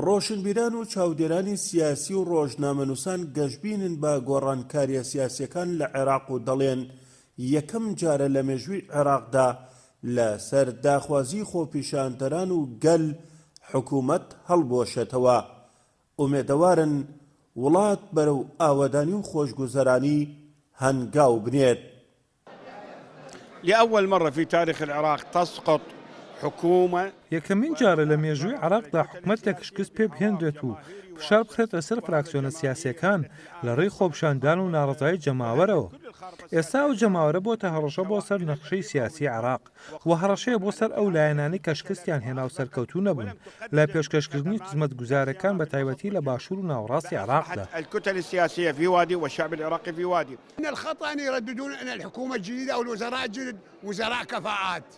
ڕۆشنبیران و چاودێرانی سیاسی و ڕۆژنامەنووسان گەشبینن بە گۆڕانکارییە سیاسییەکان لە عێراق و دەڵێن، یەکەم جارە لە مێژووی عێراقدا لەسەر داخوازیی خۆپیشاندەران و گەل حکوومەت هەڵبوەشێتەوە. ئومێدەوارن وڵات بەرەو ئاوەدانی و خۆشگوزەرانی هەنگاو بنێت. لأول مرة في تاريخ العراق تسقط حكومة. یەکەمین جارە لە مێژووی عێراقدا حکومەتێک شکست پێ بهێنرێت و فشار بخرێتە سەر فراکسیۆنە سیاسییەکان لە ڕێی خۆپیشاندان و ناڕەزایی جەماوەرەوە. ئێستا ئەو جەماوەرە بۆتە هەڕەشە بۆ سەر نەخشەی سیاسی عێراق و هەڕەشەیە بۆ سەر ئەو لایەنانەی کە شکستیان هێنا و سەرکەوتوو نەبوون لە پێشکەشکردنی خزمەتگوزارەکان بە تایبەتی لە باشوور و ناوەڕاستی عێراقدا. ان الخطا ان يرددون ان الحکومە جدیدە والوزراء جدد وزراء کفاءات.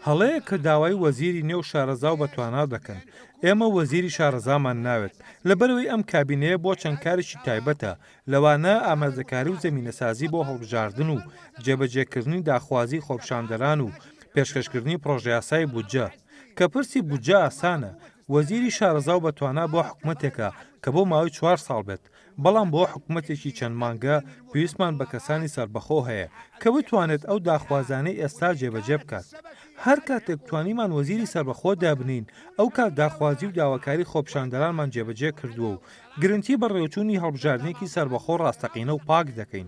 هەڵەیە کە داوای وەزیری نێو شارەزا و بەتوانا دەکەن، ئێمە وەزیری شارەزامان ناوێت، لەبەرئەوەی ئەم کابینەیە بۆ چەند کارێکی تایبەتە، لەوانە ئامرازەکاری و زەمینەسازی بۆ هەڵبژاردن و جێبەجێکردنی داخوازی خۆپیشاندەران و پێشکەشکردنی پڕۆژەیاسای بودجە، کە پرسی بودجە ئاسانە، وەزیری شارەزا و بەتوانا بۆ حکومەتێکە کە بۆ ماوەی چوار ساڵ بێت، بەڵام بۆ حکومەتێکی چەند مانگە پێویستمان بە کەسانی سەربەخۆ هەیە کە بتوانێت ئەو داخوازانەی ئێستا جێبەجێ بکات هەر کاتێک توانیمان وەزیری سەربەخۆ دابنین ئەو کات داخوازی و داواکاری خۆپشاندەرانمان جێبەجێ کردووە و گرنتی بە ڕێوچوونی هەڵبژاردنێکی سەربەخۆ ڕاستەقینە و پاک دەکەین.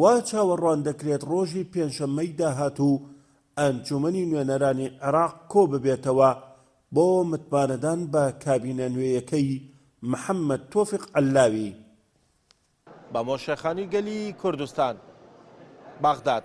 وا چاوەڕوان دەکرێت ڕۆژی پێنجشەممەی داهاتوو ئەنجوومەنی نوێنەرانی عێراق کۆببێتەوە بۆ متمانەدان بە کابینە نوێیەکەی محەممەد تۆفیق عەللاوی. بەمۆشەخانی گەلی کوردستان، بەغداد.